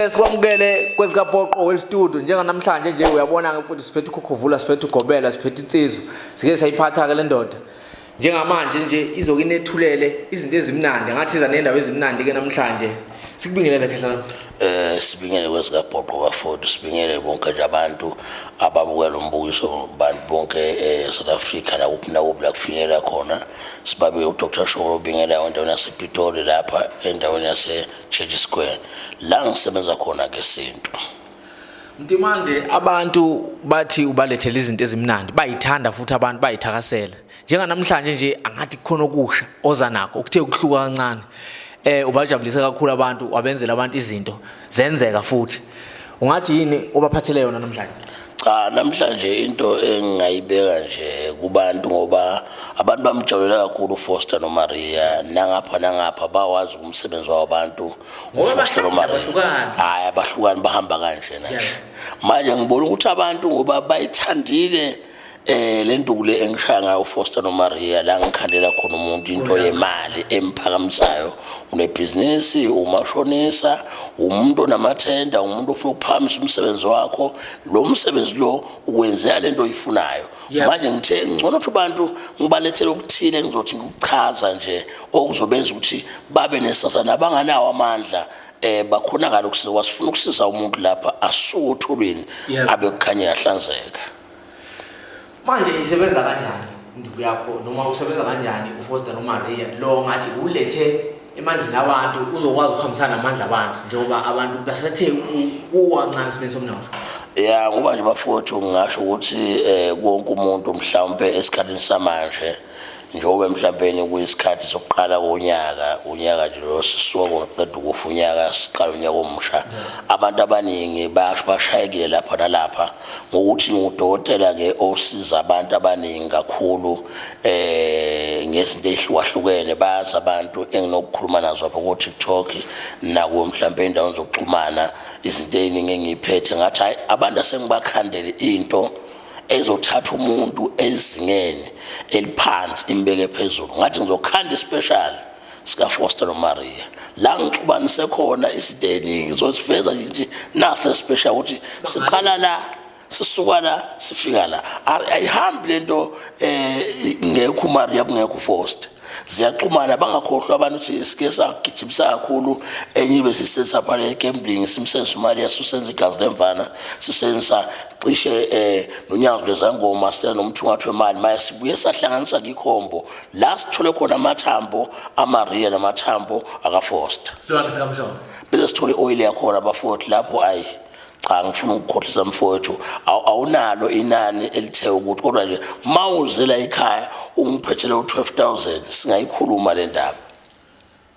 Sikwamukele kwezikapoqo well studio njenganamhlanje nje uyabona ke futhi siphethe ukhukhuvula siphethe ugobela siphethe insizwa sike sayiphatha ke lendoda njengamanje nje izoke inethulele izinto ezimnandi ngathi iza nendawo ezimnandi ke namhlanje sikubingelele khehla eh sibingele kwezikapoqo bafowethu sibingele bonke nje abantu ababukela umbukiso abantu bonke eSouth eh, Africa la kuphi na kuphi la kufinyela khona sibabe uDr Sholo bingela endaweni yasePitoli lapha endaweni yase Church Square la ngisebenza khona ke sintu Mtimande abantu bathi ubalethela izinto ezimnandi bayithanda futhi abantu bayithakasela njenganamhlanje nje angathi kukhona okusha oza nakho ukuthe ukuhluka kancane eh ubajabulise kakhulu abantu wabenzela abantu izinto zenzeka futhi ungathi yini obaphathele yona namhlanje cha namhlanje into engingayibeka nje kubantu ngoba abantu bamjabulela kakhulu uFoster noMaria nangapha nangapha bawazi umsebenzi wabantu uFoster noMaria hayi abahlukani bahamba kanje nje manje ngibona ukuthi abantu ngoba bayithandile Eh le nduku le engishaya ngayo uFoster noMaria la ngikhandela khona umuntu into yemali emphakamisayo unebhizinisi umashonisa umuntu onamathenda umuntu ofuna ukuphakamisa umsebenzi wakho lo msebenzi lo ukwenzela lento oyifunayo manje ngithe ngcono ukuthi abantu ngibalethele okuthile ngizothi ngikuchaza nje okuzobenza ukuthi babe nesasa nabanganawo amandla eh bakhonakala ukusiza wasifuna ukusiza umuntu lapha asuke othulweni abe kukhanya yahlanzeka manje isebenza kanjani induku yakho noma usebenza kanjani ufoster nomaria lo ngathi ulethe emandleni abantu uzokwazi ukuhambisana namandla abantu njengoba abantu basethe kuwancane isibeni somnotho ya ngoba nje bafowethu ngingasho ukuthi um eh, konke umuntu mhlawumpe esikhathini samanje njengoba mhlawumpeni kuyisikhathi sokuqala konyaka unyaka nje lo sisuka ngoqeda ukufa unyaka siqala unyaka omusha abantu abaningi basho bashayekile lapha nalapha ngokuthi ngudokotela-ke osiza abantu abaningi kakhulu eh ngezinto ey'hlukahlukene bazi abantu enginokukhuluma nazo apha ko-tiktok nakuwo mhlawumpe endaweni zokuxhumana izinto ey'ningi engiyiphethe ngathi hhayi abantu asengibakhandele into ezothatha umuntu ezingeni eliphansi imbeke phezulu ngathi ngizokhanda ispecial sikafoster nomaria la ngixubanise khona izinto eningi ngizosifeza ngithi nase special ukuthi siqala la sisuka la sifika la ayihambi lento eh ngekho umaria kungekho ufoster ziyaxhumana bangakhohlwa abantu ukuthi sike sagijimisa kakhulu enye ibe sisenza phana egambling simsenza imali yaso senza igazi lemvana sisenza cishe eh nonyazi lwezangoma sithe nomthungathi wemali mase sibuye sahlanganisa ikhombo la sithole khona amathambo amaria namathambo akafoster silwane sikamhlongo bese sithole oil yakhona bafowethu lapho ayi cha ngifuna ukukhohlisa mfowethu awunalo inani elithe ukuthi kodwa nje uma uzela ekhaya ungiphethele u-12000 singayikhuluma le ndaba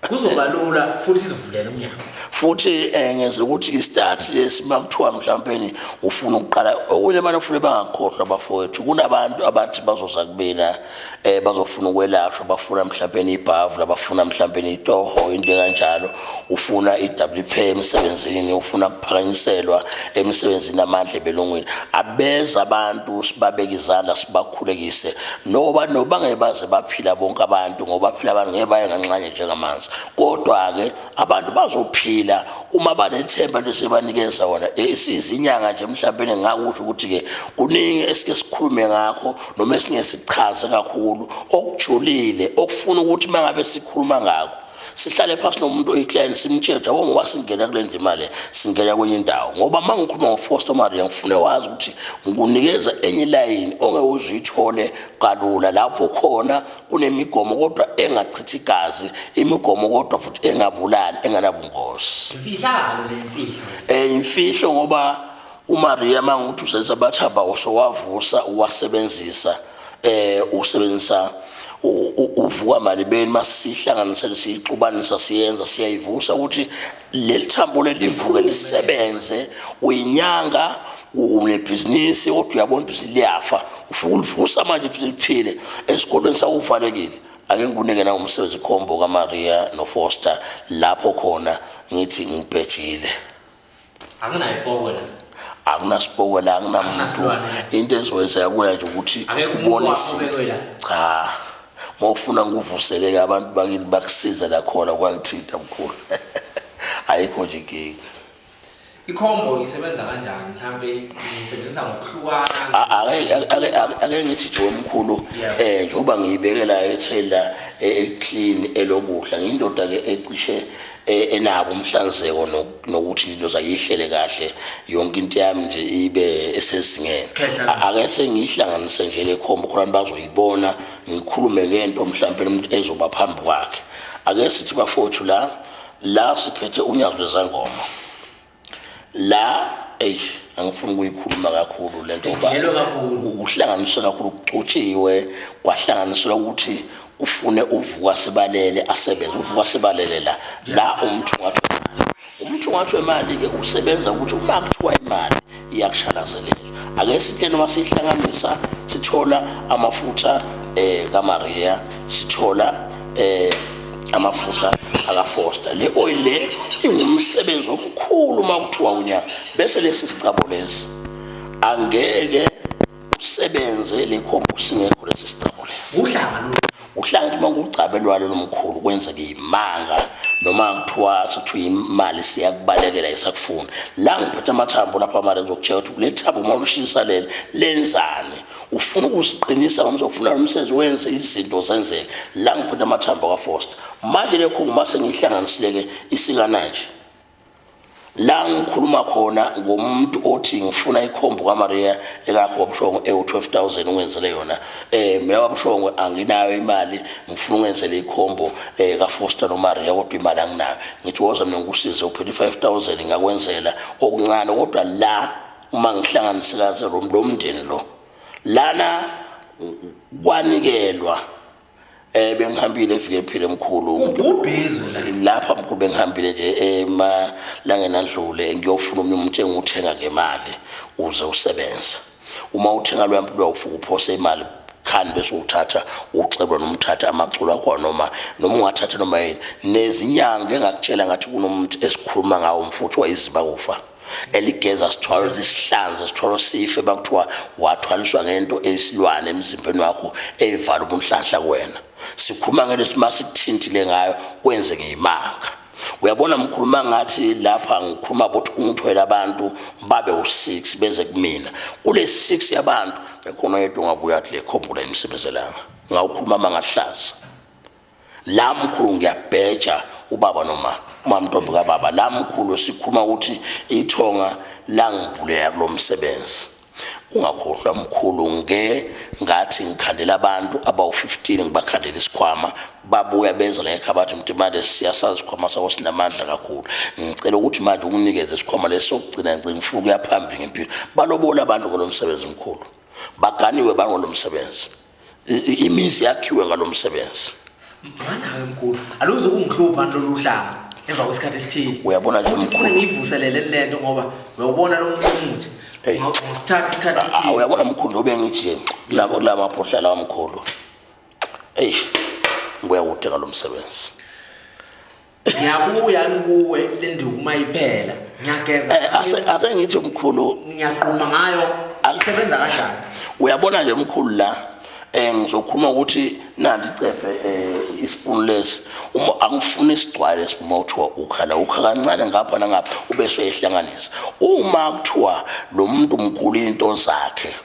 kuzoba lula futhi izivulele umnyango futhi um ngeza ukuthi istart lesi uma kuthiwa mhlawumpeni ufuna ukuqala okunye abantu kufunele bangakhohlwa bafowethu kunabantu abathi bazoza kubina eh bazofuna ukwelashwa bafuna mhlawumbe ibhavu labafuna mhlawumbe itoho into kanjalo ufuna iWP emsebenzini ufuna kuphakanyiselwa emsebenzini amandla ebelungwini abeza abantu sibabeke izandla sibakhulekise noba noba ngebaze baphila bonke abantu ngoba phila abantu ngeke baye nganxanye njengamanzi kodwa ke abantu bazophila uma banethemba lesebanikeza wona isizinyanga nje mhlawumbe ngakusho ukuthi ke kuningi esike sikhulume ngakho noma esingesichazi kakhulu okujulile okufuna ukuthi uma ngabe sikhuluma ngako sihlale phasi nomuntu oyiclient simtshele jabo ngoba singena kule ndima le singena kwenye indawo ngoba uma ngikhuluma ngofoster maria ngifune wazi ukuthi ngikunikeza enye ilayini ongeke uzuyithole kalula lapho khona kunemigomo kodwa engachithi igazi imigomo kodwa futhi engabulali enganabungozi imfihlakalo le mfihlo um imfihlo ngoba uMaria manguthi usenza abathaba osowavusa uwasebenzisa eh usebenzisa uvuka malibeni masihlanganisele siyixubanisa siyenza siyayivusa ukuthi leli thambo lelivuke lisebenze uyinyanga unebhizinisi kodwa uyabona ukuthi liyafa ufuna ulivusa manje ukuthi liphile esikolweni sawuvalekile ake ngikunike na umsebenzi khombo kaMaria noFoster lapho khona ngithi ngibhejile anginayipoko la akunasipoko la anginamuntu into ezokwenzeka kuya nje ukuthi ubone cha ngokufuna ngikuvuseleke abantu bakini bakusize la khona kwakuthinta mkhulu ayikho nje inkinga ikhombo isebenza kanjani mhlambe ngisebenzisa ngokuhlukana ake ngithi nje omkhulu eh njengoba ngiyibekela ethela eclean elokudla ngindoda ke ecishe e, enabo umhlanzeko nokuthi into zayihlele kahle yonke into yami nje ibe esezingeni ake sengihlanganise nje le khombo khona bazoyibona ngikhulume ngento mhlawumbe umuntu ezoba phambi kwakhe ake sithi bafowethu la la siphethe unyazi lwezangoma la eyi angifuni ukuyikhuluma kakhulu le nto kuhlanganiswe kakhulu kucotshiwe kwahlanganiselwa ukuthi ufune uvuka sebalele asebenze uvuka sebalele la la umuntu ngathi umuntu ngathi wemali-ke usebenza ukuthi uma kuthiwa imali iyakushalazelela ake sihle noma siyihlanganisa sithola amafutha um eh, kamariya sithola um amafutha akafoster le oil le ingumsebenzi omkhulu uma kuthiwa unya bese lesi sicabo lesi angeke usebenze le khombo singekho lesi sicabo lesi uhlanga lo uhlanga ukuthi uma kugcabe lwalo lomkhulu kwenzeke imanga noma kuthiwa sekuthiwa imali siyakubalekela isakufuna la ngiphethe amathambo lapha mara ngizokutshela ukuthi kule thambo uma ulushinisa leli lenzani ufuna ukusiqinisa ngoba uzofuna lo msebenzi wenze izinto zenzeke la ngiphethe amathambo kafoster manje lekho uma sengihlanganisile-ke isikananje la ngikhuluma khona ngomuntu othi ngifuna ikhombo kamariya ekakho wabushongo ewu-12 000 ungenzele yona um mina wabushongo anginayo imali ngifuna ungenzele ikhombo um eh, kafoster nomariya kodwa imali anginayo ngithi woza mina ngikusize uphela i-5 000 ngakwenzela okuncane kodwa la uma ngihlanganise kaze lo mndeni lo lana kwanikelwa eh bengihambile efike ephile mkhulu ubhizi lapha mkhulu bengihambile nje ema langena ndlule ngiyofuna umuntu umthenga uthenga ngemali uze usebenza uma uthenga lwa mpilo ufuku phose imali khani bese uthatha uxebo nomthatha amaculo akho noma noma ungathatha noma yini nezinyanga engakutshela ngathi kunomuntu esikhuluma ngawo mfuthu wayiziba kufa eligeza sithwalo zisihlanze sithwalo sife bakuthiwa wathwaliswa ngento eyisilwane emzimbeni wakho eyivala ubunhlanhla kuwena sikhuluma ngento sima sikuthintile ngayo kwenze ngeyimanga uyabona mkhuluma ngathi lapha ngikhuluma ukuthi ungithwele abantu babe u-six beze kumina kule six yabantu ekhona yedwa ungabuya kule khombula imisebenzelanga ngawukhuluma mangahlaza la mkhulu ngiyabheja ubaba noma umamntombi kababa la mkhulu sikhuluma ukuthi ithonga langibhuleka kulo msebenzi ungakhohlwa mkhulu nge ngathi ngikhandela abantu abawu-15 ngibakhandela isikhwama babuya beza la ekhaya bathi mntu imali siyasazi isikhwama sakho sinamandla kakhulu ngicela ukuthi manje unginikeze isikhwama lesi sokugcina ngicela ngifuna ukuya phambili ngempilo balobola abantu ngolo msebenzi mkhulu baganiwe bangolo msebenzi imizi yakhiwe ngalo msebenzi manayo mkhulu aluze ukungihlupha lolu hlanga emva kwesikhathi esithile uyabona nje mkhulu ngivuselele lento ngoba uyawubona lo muntu umuthi ngisithatha isikhathi ah, esithile uyabona mkhulu obe ngithi labo lama phohla la mkhulu eish ngibuya kude ngalo msebenzi ngiyabuya kuwe le nduku uma iphela ngiyageza eh, ase ngithi umkhulu ngiyaquma ngayo isebenza kanjani uyabona nje umkhulu la eh ngizokhuluma ukuthi nandi cephe eh ispoon lesi uma angifuni isigcwale sibuma uthiwa ukhala ukha kancane ngapha nangapha ube soyehlanganisa uma kuthiwa lo muntu mkhulu into zakhe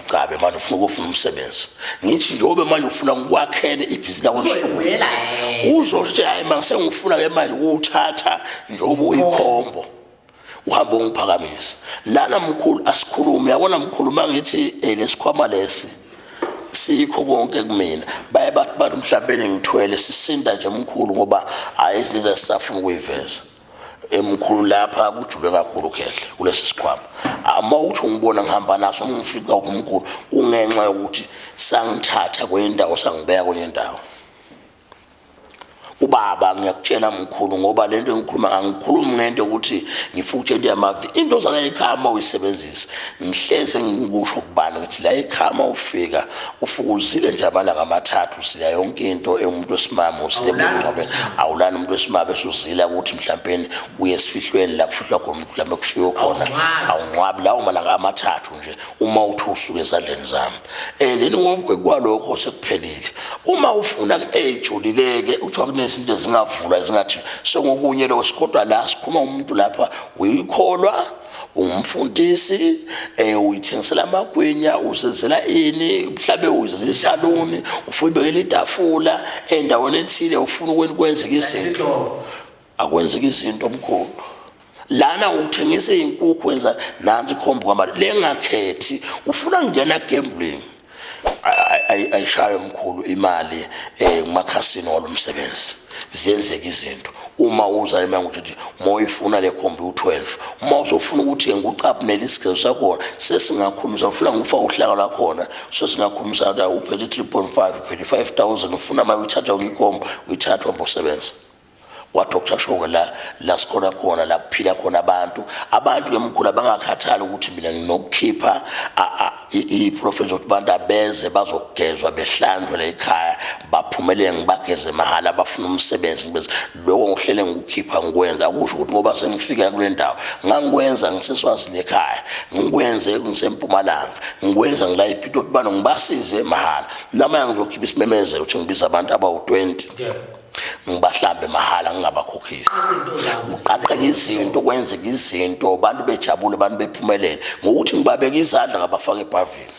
Gcabe manje ufuna ukufuna umsebenzi. Ngithi njengoba manje ufuna ukwakhele ibhizinisi lakho nsuku. Uzothi hayi manje sengifuna ke manje ukuthatha njengoba uyikhombo. Uhamba ungiphakamisa. Lana mkhulu asikhulume yabona mkhulu mangithi eh, lesikhwama lesi. sikho konke kumina baye bathi bantu mhlawumbe ngithwele sisinda nje mkhulu ngoba hayi izinto ezisafuna ukuyiveza emkhulu lapha kujule kakhulu khehla kulesi sikhwama uma uthi ungibona ngihamba naso ngifica uphi umkhulu kungenxa yokuthi sangithatha kwenye indawo sangibeka kwenye indawo ubaba ngiyakutshela mkhulu ngoba le nto engikhuluma ngangikhulumi ngento yokuthi ngifuna ukutshela into yamavi into zala ekhaya uma uyisebenzisa ngihleze ngikusho kubani ukuthi la ekhaya uma ufika ufukuzile nje amalanga amathathu usila yonke into engumuntu wesimame usile bengcwabe awulani umuntu wesimame esuzila ukuthi mhlawumpeni uye esifihlweni la kufihlwa khona umuntu mhlawumbe kufike khona awungcwabi lawo malanga amathathu nje uma uthi usuke ezandleni zami um leni ngovuke kwalokho sekuphelile uma ufuna eyijulileke kuthiwa kunezinto ezingavulwa ezingathi sengokunye lokho sikodwa la sikhuluma umuntu lapha uyikholwa ungumfundisi um uyithengisela amagwinya usenzela ini mhlawumbe uzenzela isaluni ufuna ubekela itafula endaweni ethile ufuna ukwenzeka izinto akwenzeka izinto omkhulu lana uthengisa iy'nkukhu wenza nansi ikhomba kwamali lengakhethi ufuna kungena gambling ayishayo mkhulu imali eh kumakhasini olumsebenzi ziyenzeka izinto uma uza emanga ukuthi moyifuna le khombi u12 uma uzofuna ukuthi ngikucapnele isigezo sakho sesingakhuluma uzofuna ngikufa uhlaka lakhona so singakhuluma sathi uphethe 3.5 uphethe 5000 ufuna mali uthatha ungikhomba uyithatha uhambe usebenza kwathi okushashoke la la sikhona khona la kuphila khona abantu abantu emkhulu bangakhathali ukuthi mina nginokukhipha i-profession ukuthi abantu abeze bazogezwa behlanjwe la ekhaya baphumelele ngibageze mahhala bafuna umsebenzi ngibeze lokho ngihlele ngikukhipha ngikwenza akusho ukuthi ngoba sengifika kule ndawo ngangikwenza ngiseswazini ekhaya ngikwenze ngisempumalanga ngikwenza ngila iphitho ukuthi bana ngibasize mahhala namanye ngizokhipha isimemezelo ukuthi ngibiza abantu abawu-20 yeah. ngibahlambe mahhala ngingabakhokhisi kuqaqeka izinto kwenzeka izinto abantu bejabule abantu bephumelele ngokuthi ngibabeke izandla ngabafaka ebhavini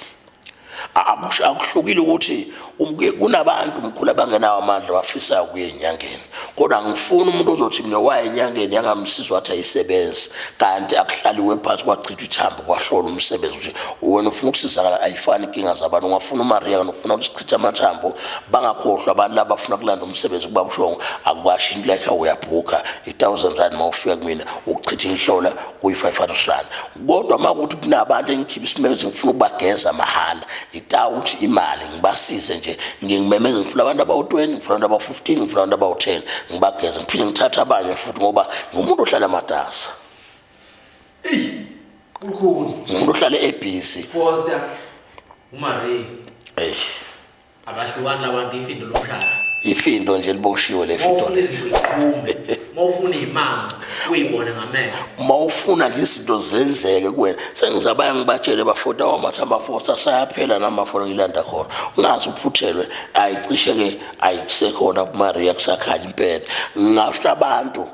akuhlukile ukuthi um, kunabantu mkhulu abangenawo amandla bafisayo kuye enyangeni kodwa ngifuna umuntu ozothi mina waye enyangeni yangamsiza wathi ayisebenzi kanti akuhlaliwe phansi kwachithwa ithambo kwahlola umsebenzi ukuthi wena ufuna ukusizakala ayifani inkinga zabantu ungafuna umariya kanti ufuna chitha amathambo bangakhohlwa abantu laba bafuna kulanda umsebenzi kuba bushongo akukwasho into yakhe uyabhukha i-thousand rand uma ufika kumina ukuchitha inhlola kuyi-five hundred rand kodwa uma kuthi kunabantu engikhipha isimemezi ngifuna ukubageza mahhala itawuthi imali ngibasize nje ngingimemeze ngifuna abantu abawu-twenty ngifuna abantu abawu-fifteen ngifuna abantu abawu-ten ngibageze ngiphinde ngithathe abanye futhi ngoba ngumuntu ohlala matasa Eish. Ukhulu. Umuntu ohlale ebusy. Foster. Umarie. Eish. Abahlukani labantu ifindo lomshado. Ifindo nje liboshiwe le findo. Ufuna izinto iqhume. Mawufuna imama uyibone ngamehlo. Mawufuna nje izinto zenzeke kuwena. Sengizabaya ngibatshele bafota wamathi amafosa sayaphela namafola ngilanda khona. Ungazi uphuthelwe ayicishe ke ayikusekhona kuMaria kusakhanya impela. Ngasho abantu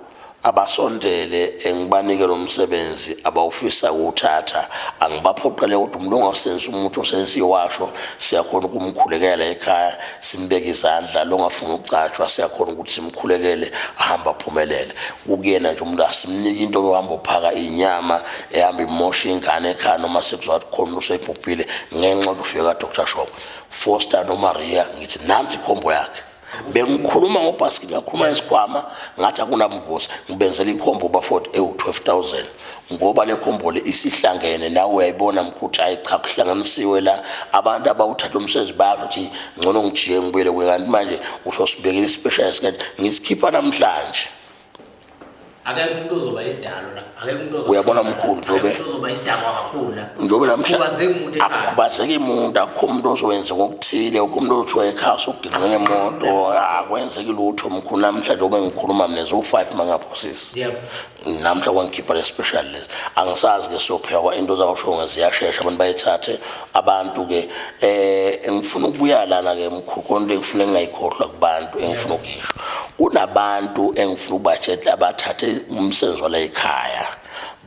abasondele ngibanike lo msebenzi abawufisa kuwuthatha angibaphoqele kodwa umuntu ongasenzi umuthi osensiwasho siyakhona ukumkhulekela ekhaya simbeke izandla longafuna ukucatshwa siyakhona ukuthi simkhulekele ahamba aphumelele kukuyena nje umuntu asimnike into yohamba uphaka inyama ehamba imosha ingane ekhaya noma sekuzwa ukuthi khona usebhubhile ngenxa ukuthi ufika dr shop foster nomaria ngithi nansi ikhombo yakhe bengikhuluma ngobhasikili ngakhuluma ngesikhwama ngathi akunamvuzo ngibenzela ikhombo ubafoti ewu-12000 ngoba le khombo le isihlangene nawe uyayibona mkhuthi hayi cha kuhlanganisiwe la abantu abawuthatha umsebenzi bayasho ukuthi ngcono ngijiye ngibuyele kuye kanti manje usosibekela i-special esikanje ngisikhipha namhlanje akekho umuntu ozoba isidalo la akekho umuntu ozoba uyabona mkhulu njobe ozoba isidakwa kakhulu la njobe namhla akukhubazeki umuntu akukho umuntu ozowenza ngokuthile akukho umuntu othiwa ekhasa ukugilwa ngemoto akwenzeki lutho mkhulu namhla njobe ngikhuluma mina zo-five mangaphosisi namhla kwangikhipha le special lesi angisazi-ke siyophila kwa into zakusho ngeziyashesha abantu bayithathe abantu ke eh ngifuna ukubuya lana ke mkhulu konto engifuna engayikhohlwa kubantu engifuna ukuyisho kunabantu engifuna ubatshetla abathathe umsebenzi wala ekhaya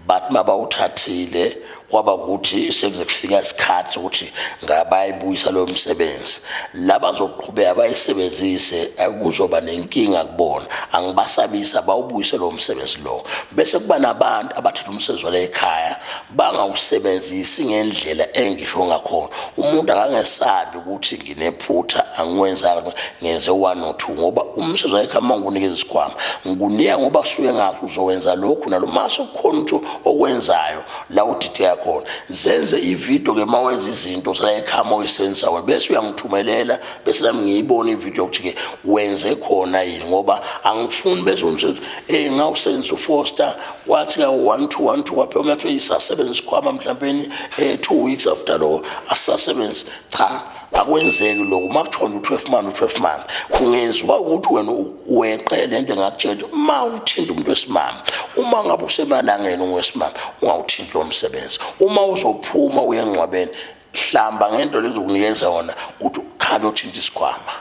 bathi mabawuthathile kwaba ukuthi sekuze kufika isikhathi sokuthi ngabayibuyisa lo msebenzi laba zoqhubeka bayisebenzise kuzoba nenkinga kubona angibasabisa bawubuyise lo msebenzi lo bese kuba nabantu abathatha umsebenzi wale ekhaya bangawusebenzisi ngendlela engisho ngakhona umuntu akangesabi ukuthi nginephutha angiwenzanga ngenze one or two ngoba umsebenzi wakhe uma ngikunikeza isikhwama ngikunika ngoba suke ngathi uzowenza lokhu nalo mase kukhona ukuthi okwenzayo la udideka khona zenze ividiyo ke uma wenza izinto selayikhama oyisebenzisa wena bese uyangithumelela bese nami ngiyibona ividiyo ukuthi-ke wenze khona yini ngoba angifuni bese umsebenzi um ngawusebenzisa ufoster wathi ka one two one two waphela umuntu athi isasebenza isikhwama mhlawumbeni eh two weeks after lo asasebenzi cha akwenzeki lokho uma kuthiwa u-twelve man u-twelve man kungenziwa ukuthi wena weqe le nto engakutshela uma uthinta umuntu wesimama uma ngabe usemalangeni ungesimama ungawuthinti lo msebenzi uma uzophuma uye engcwabeni hlamba ngento lezokunikeza yona ukuthi ukhambe uthinta isikhwama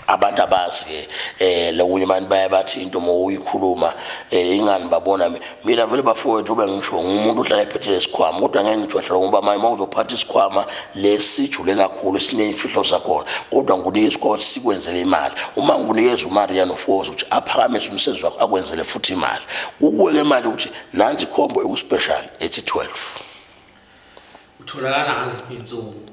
abantu abazi ke eh lokunye abantu baye bathi into uma uyikhuluma eh ingani babona mina vele bafowethu ube ngisho ngumuntu ohlala ephethe lesikhwama kodwa ngeke ngijwahle ngoba manje uma uzophatha isikhwama lesijule kakhulu sineyimfihlo zakhona kodwa ngikunike isikhwama sikwenzele imali uma ngikunikeza umari yanofoza ukuthi aphakamise umsebenzi wakho akwenzele futhi imali ukuweke manje ukuthi nansi ikhombo ekuspecial ethi 12 utholakala ngaziphi insuku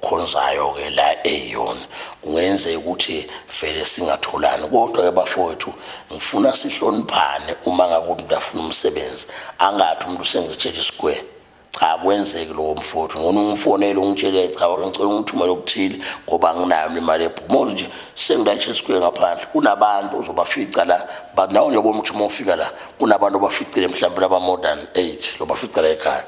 khonzayo ke la eyon kungenzeka ukuthi vele singatholani kodwa ke bafowethu ngifuna sihloniphane uma ngakuthi umuntu afuna umsebenzi angathi umuntu usenze church square cha kwenzeki lowo mfowethu ngona ungifonele ungitshele cha ngicela ungithumele okuthile ngoba anginayo imali ebhuma nje sengilatshe square ngaphandle kunabantu uzobafica la but nawe njengoba umthuma ufika la kunabantu obaficile mhlawumbe laba modern age lobafica la ekhaya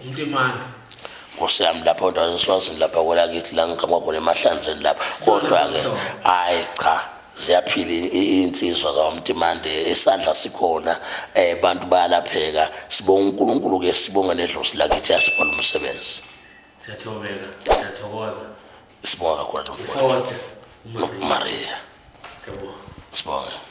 umtimandi nkosi yami lapho ndazeswazini lapha kwelakithi la ngiqhamuka khona emahlanzeni lapha kodwa-ke hhayi cha ziyaphila iy'nsizwa zakwamtimande isandla sikhona um abantu bayalapheka sibonga unkulunkulu-ke sibonga nedlosi lakithi yasibhala umsebenzi siyathobeka siyathokoza sibonga kakhulu maria sibonga